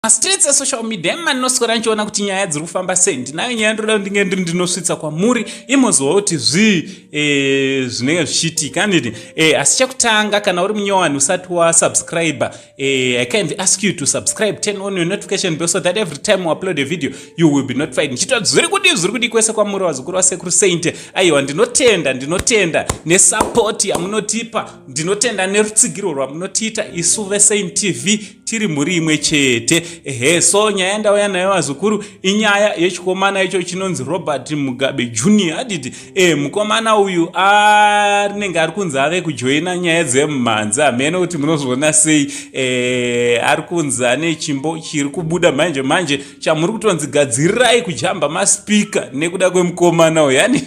Mastreets esocial media imi mandinoswera ndichiona kuti nyaya dziri kufamba sei ndinayo nyaya ndoda kuti ndinge ndiri ndinosvitsa kwamuri imoziva kuti zvii e, zvinenge zvichiitika handiti e, asi chekutanga kana uri munyowani usati wasubscribe e, i kind ask you to subscribe turn on your notification bell so that every time u upload a video you will be notified ndichitoti zviri kudii zviri kudii kwese kwamuri vazukuru vasekuru saint aiwa ndinotenda ndinotenda nesupport yamunotipa ndinotenda nerutsigiro rwamunotiita isu vesaint tv tiri mhuri imwe chete ehe so nyaya yandauya nayo vazukuru inyaya yechikomana icho chinonzi robert mugabe junior aditi e mukomana uyu arinenge ari kunzi ave kujoina nyaya dzemumhanzi hamene kuti munozviona sei e, ari kunzi ane chimbo chiri kubuda manje manje chamuri kutonzi gadzirirai kujamba maspika nekuda kwemukomana uyu yani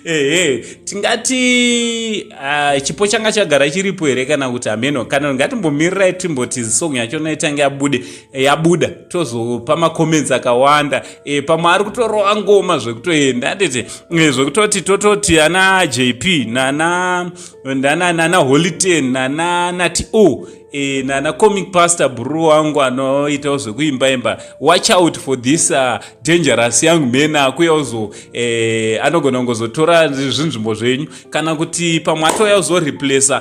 ehe tingati uh, chipo changa chagara chiripo here kana kuti hameno kana ngatimbomirira timboti song yacho naitange yabude eh, yabuda tozopa macomments akawanda e, pamwe ari kutorova ngoma zvekutoenda anditi e, zvekutoti tototi ana jp nana nana nana holiten nana nati o oh, E, nana comic pastor bru wangu anoitawo zvekuimba imba watch out for this uh, dangerous young man akuya uzo e, anogona kungozotora zvinzvimbo zvenyu kana kuti pamwe atouya uzoreplace uh,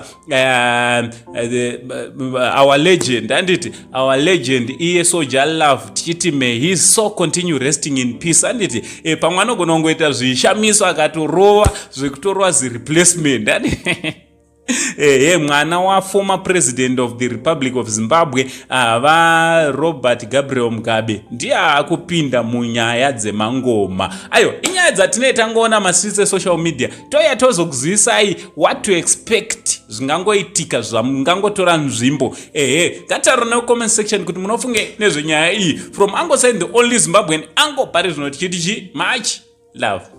uh, our legend handiti our legend iye soja love tichiti may he so continue resting in peace handiti e, pamwe anogona kungoita zvishamiso akatorova zvekutorova zireplacement handiti ehe mwana waformer president of the republic of zimbabwe ah, varobert gabriel mugabe ndiye akupinda munyaya dzemangoma ayo inyaya dzatinee tangoona mastreets esocial media toya tozokuzivisai what to expect zvingangoitika zvamungangotora nzvimbo ehe ngataro necomment section kuti munofunge nezvenyaya iyi from ango sign the only zimbabwean ango pari zvino tichiti chi much love